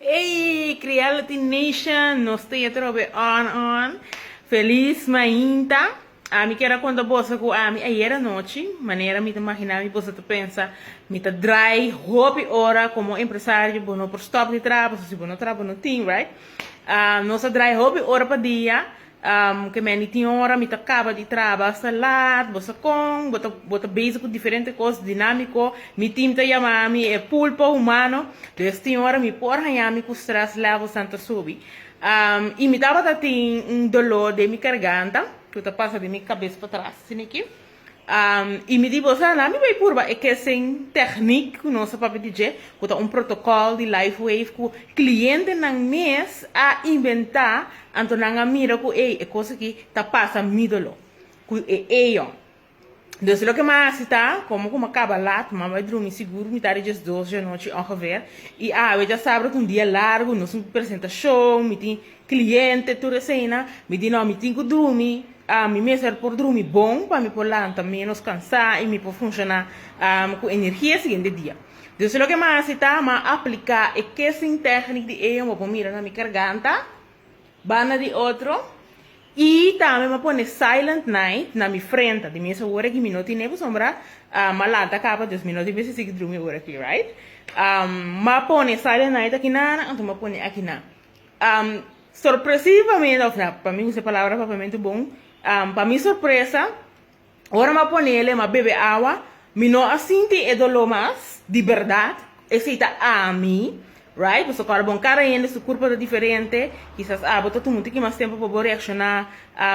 Ey creality nation nos ta yet robe on on feliz mainta ami kier a conta boso cu ami ayer anochi manera mi ta magina mi boso ta pensa mi ta dry hopi ora como empresario bo no por stop di traha pasobra si bo no traha bo no tin right nos a dry hopi ora pa dia Ke meni tin ora mi ta kaba di traba asta laat, bo sa kon bo ta bo ta bezig ku diferente kos dinámiko, mi tim ta yama mi e pulpa humano, des tin ora mi por haña mi ku strès levels nan ta subi, i mi tabata tin un doló den mi karganta ku ta pasa di mi kabes patras, sinikin. I mi di boso, Laat mi bai purba e kesen techniek ku nos a papia di dje, ku ta un protokòl di LifeWave ku klientenan mes a inventá, anto nan a mira ku ey, e kos aki ta pasa mídolo ku e eon. Dus loke mi a hasi ta, komo ku mi a kaba laat, mi a bai drumi sigur mitad di djes dos di anochi ongeveer, i awe dja sabra ta un dia largu, nos tin ku presenta show, mi tin Cliente, tur eseinan mi di no, mi tin cu drumi, mi mester por drumi bon pa mi por lanta menos cansa y mi por funciona cu energia e siguiente dia. Dus loke mi a haci ta, mi a aplica e kissing technic di Aeon, bo por mira na mi carganta, banda di otro, y tambe mi a pone silent night na mi frente, di mes ora que mi no tin ne pasobra mi a lanta caba, dus mi no tin mester sigui drumi ora aki, right. Mi a pone silent night aki nan, anto mi a pone aki nan. Sorpresivamente, of na, pa mi usa e palabra papamentu bon, pa mi sorpresa, ora mi a ponele, mi a bebe awa, mi no a sinti e doló mas, di berdad, esei ta ami, right, pasobra kor bon, kada hende su kurpo ta diferente, kisas abo ta tuma un tiki mas tempu pa bo reakshoná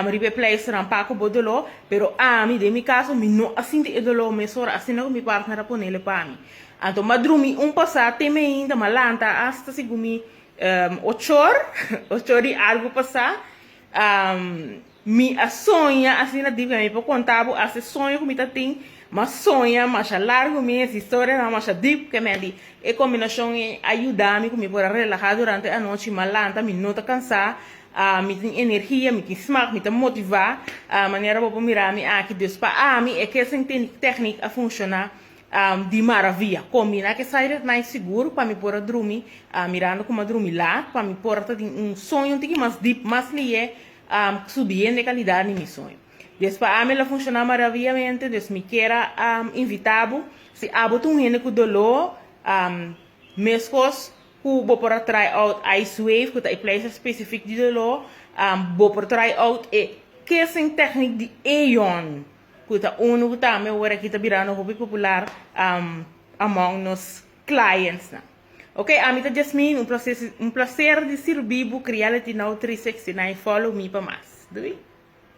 riba e pleisternan pa ku bo doló, pero ami, den mi kaso, mi no a sinti e doló mes ora, asina ku mi partner a ponele pa mi. Anto mi a drumi un pasá te meinta, mi a lanta asta sigu mi Ochor, ochor di algu pasá, mi a soña asina dip mei. Mi por konta bo as e soño ku mi ta tin, m'a soña masha largu mes, historianan masha dip. Ke mei di e kombinashon ei a yuda mi ku mi por a relahá durante anochi. M'a lanta, mi no ta kansá, mi tin energia, mi tin smak, mi ta motivá. Manera bo por mira mi aki, dus pa ami e kesen teknik a funshoná. di maravia. Con mi na ke side at night sigur pa mi por a drumi mirando como a drumi laat pa mi por ta tin un soño un tiki mas deep mas liye subiendo e calidad di mi soño. Des pa ami lo funciona maraviamente des mi kier a invita bo si abo ta un hende cu dolo mescos cu bo por a try out ice wave cu ta e place specific di dolo bo por try out e kissing technic di Aeon. cu ta unu cu tambe awor aki ta birando hopi popular among nos clientsnan. Ok, ami ta Jasmine, un placer, un placer di sirbi bo Creality Now 369, follow mi pa mas. Doei!